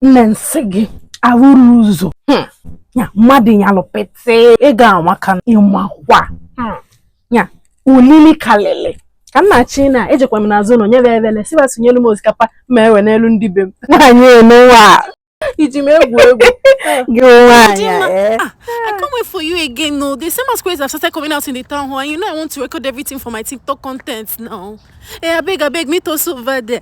nne nsị gị awụrọ ụzọ hmm. ya mmadụ nyalụ pete ị ga-anwa ka ị makwa hmm. ya olili kalịlị ka m na-achị na ejekwa m n'azụ ụnọ nyebe ebele sị ba sonyelu m osikapa ma ewenelu ndị be m nwaanyị nụwa iji m egwu egwu gị nwaanyị eh? ah, I can't wait for you again no they say masquerades have started coming out in the town hall and you know I want to record everything for my TikTok content now eh abeg abeg meet us over there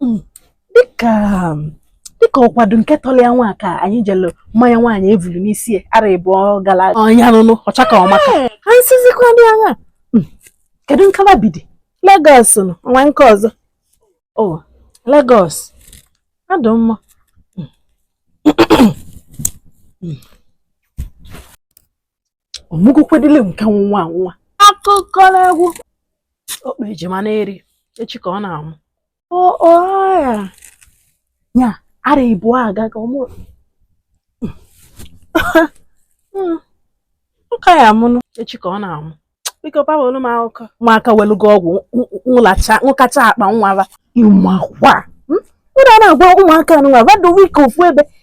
hmm, dịka dịka ọkwado nke tọlọ ya nwa ka anyị jelu mmanya nwaanyị evulu n'isi arọ ịbụọ gara ọ nya nụnụ ọ chaka ọ maka ha nsizikwa dị anya hmm, kedu nka ba bidi Lagos nọ nwa nke ọzọ o oh, Lagos adụ mma hmm. ọ mụgokwedịle nke nwa nwa akụkọ n'egwu okpe ejima na-eri echi ka ọ na-amụ ya ya arọ ịbụọ aga ka ọ mụ hmm. nka ya amụnụ echi ka ọ na-amụ biko pawolu m akụkọ ụmụaka welugo ọgwụ nwụlacha nwụkacha akpa nwa ba ị makwa ụra hmm? na-agwa ụmụaka nwa ba dowe ike ofu ebe